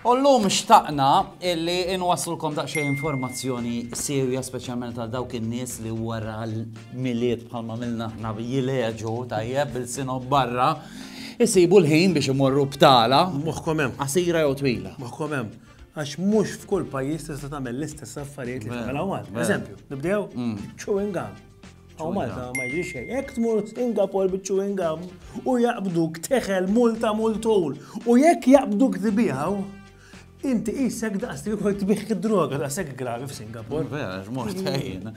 U llum xtaqna illi nwasslulkom daqsxejn informazzjoni siewja speċjalment għal dawk in-nies li wara l-Milied bħalma għamilna aħna jilgħeġu tajjeb b'ilsienhom barra jsibu l-ħin biex imorru btala. Moħħkom hemm. Qasira jew twila. Moħħkom hemm. Għax mhux f'kull pajjiż tista' tagħmel l-istess affarijiet li tagħmel hawn. Eżempju, nibdew mm. chewing gum. Għaw Malta ma jġri xej. Ek tmur Singapore bit chewing gum u jaqbduk teħel multa multul. U jekk jaqbduk tibiħaw, inti jissek daqs li kol tibiħ id-droga daqsek gravi f'Singapore. Vera, mort ħajjin.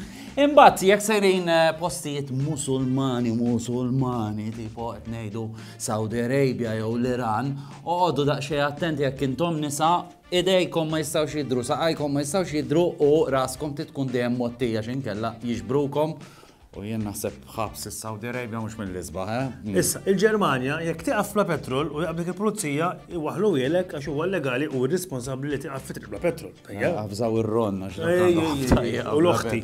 Imbat, jekk sejrin eh, postijiet musulmani, musulmani, tipo qed ngħidu Saudi Arabia jew l-Iran, oqogħdu daqsxejn attenti jekk intom nisa Idejkom ma jistgħux jidhru, saqajkom ma jistgħux jidhru u raskom trid tkun dejjem mgħottija x'inkella jiġbrukom u jien naħseb ħabs is-Saudi Arabia mhux mill-isbaħ, eh? Hmm. Issa, il-Ġermanja jekk tieqaf bla petrol u jaqbdek il-pulizija iwaħlu jilek għax huwa legali u responsabbli li tieqaf fitri bla petrol. Għafżaw ir-ron għax u l-oħti.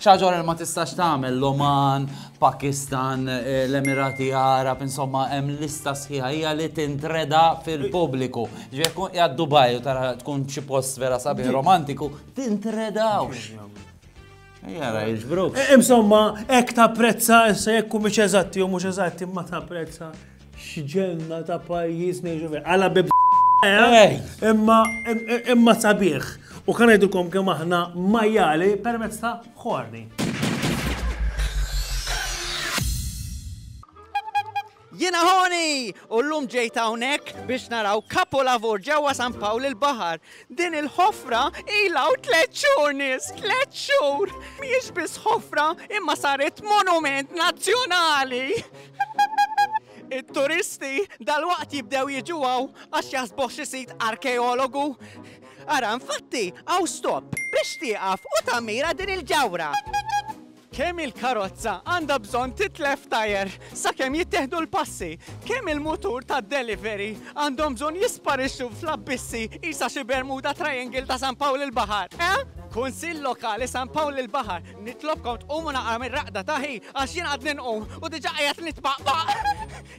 Xaġor ma tistax tagħmel l-Oman, Pakistan, l-Emirati Għarab, insomma hemm lista sħiħa hija li tintreda fil-pubbliku. Ġifieri jekk tkun qiegħed Dubai u tara tkun xi post vera sabiħ romantiku, tintredawx. Ejja ra jiġbruk. Insomma, hekk tapprezza issa jekk humiex eżatti jew mhux eżatti imma tapprezza X'ġenna ta' pajjiż ngħixu fih. Għala bib eh? imma imma sabiħ. U kan ngħidilkom kemm aħna majjali permezz ta' ħorni. Jina ħoni! U l-lum ġejta unek biex naraw kapolavur ġewwa San Pawl il-Bahar Din il-ħofra ilha hawn tliet xhur nies, tliet xhur! Mhijiex biss ħofra imma saret monument nazzjonali! It-turisti dalwaqt jibdew jiġu hawn għax jaħsbuh xi sit arkeologu. Ara, infatti, hawn stop biex tieqaf u tammira din il-ġawhra. Kemm il-karozza għandha bżonn titlef tajer sakemm jittieħdu l-passi? Kemm il-mutur tad-delivery għandhom bżonn jisparixxu fl-abbissi qisha xi Bermuda Triangle ta' San Pawl il-Baħar, eh? Kunsill Lokali San Pawl il-Baħar, nitlobkom tqumu naqra mir-raqda ta' hi għax jien għadni nqum u diġà qiegħed nitpaqpaq!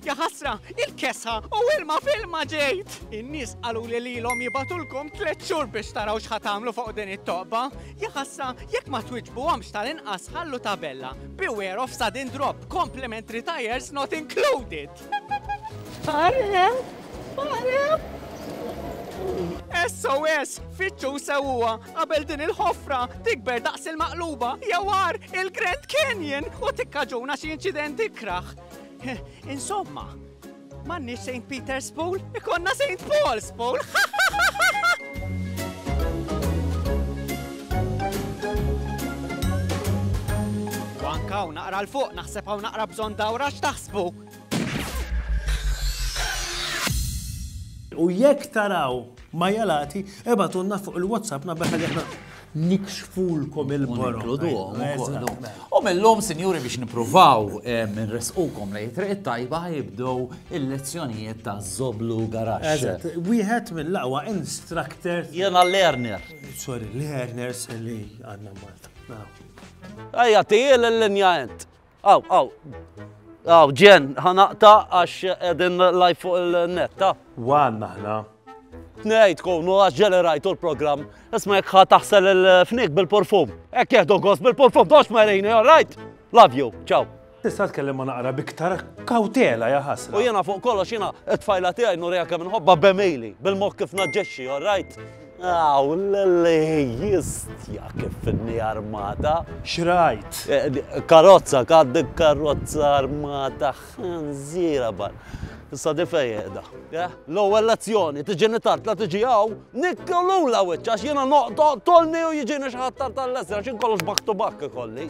Jaħasra, il-kesħa u ilma f'ilma ġejt! In-nies qaluli lilhom jibgħatulkom tliet xhur biex taraw x'ħa tagħmlu fuq din it-toqba. Jaħasra, jekk ma twiġbuhomx tal-inqas ħallu tabella, Beware of sudden drop, complimentary tyres not included! Fare! Fare! SOS! Fittxu sewwa qabel din il-ħofra tikber daqs il-maqluba jew għar il-Grand Canyon u tikkaġuna xi inċident ikraħ. Insomma, m'għandniex St. Peter's Pool, ikonna St. Paul's Pool! Wankaw naqra l-fuq, naħseb hawn naqra bżonn dawra x'taħsbu. U jekk taraw ma jalati, ebatunna fuq il-WhatsApp nabbeħ li nikxfulkom il-borok. Nikluduhom ukoll. U mill-lum, sinjuri, biex nipruvaw nresqukom lej triq tajba jibdew il-lezzjonijiet ta' Zoblu Garax. Wieħed mill-aqwa instructor. Jena learner. Sorry, learners li għadna Malta. Ejja, tijil l-linja ent. Aw, aw. Aw, ġen, ħanaqta għax edin live fuq il-net, ta? Wan naħna. Tnejt konu għax ġeli rajtu l-program. Isma jek taħsel il-fnik bil-perfum. Ek jihdu għos bil-perfum, dox marini, all right? Love you, ciao. Tista' tkellem ma naqra biktar kawtela ja ħasra. U jiena fuq kollox jiena t-tfajla tiegħi nurija kemm inħobba bemili, bil-moħħ kif naġġexxi, all right? Aw, l-Alla jistja kif inni armata! X'rajt? Karozza, għaddi karozza armata ħanżiera bħal. Issa di fejn qiegħda? Eħ, l-ewwel lezzjoni, tiġini tard la tiġi hawn, nikkel lula wiċċ għax jiena noqgħod oqtolni u jiġini xi ħadd tard għall-eżra, x'inkollox back to back ikolli.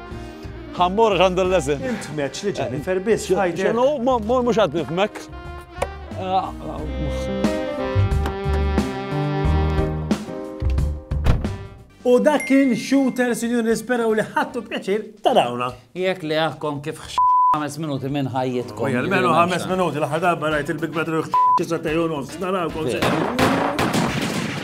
Ħa mmur għax għandu l-leżen. Int meċ li Jennifer biss ħajder. Xenu, mor mhux għad nifmek. U dak kien shooter, sinjur nisperaw li ħattu pjaċir tarawna. Jek li għakkom kif ħames minuti minn ħajjitkom. Ujja, l-menu ħames minuti, l-ħadabba rajt il-Big Brother ħċisa tajun nofs, narawkom.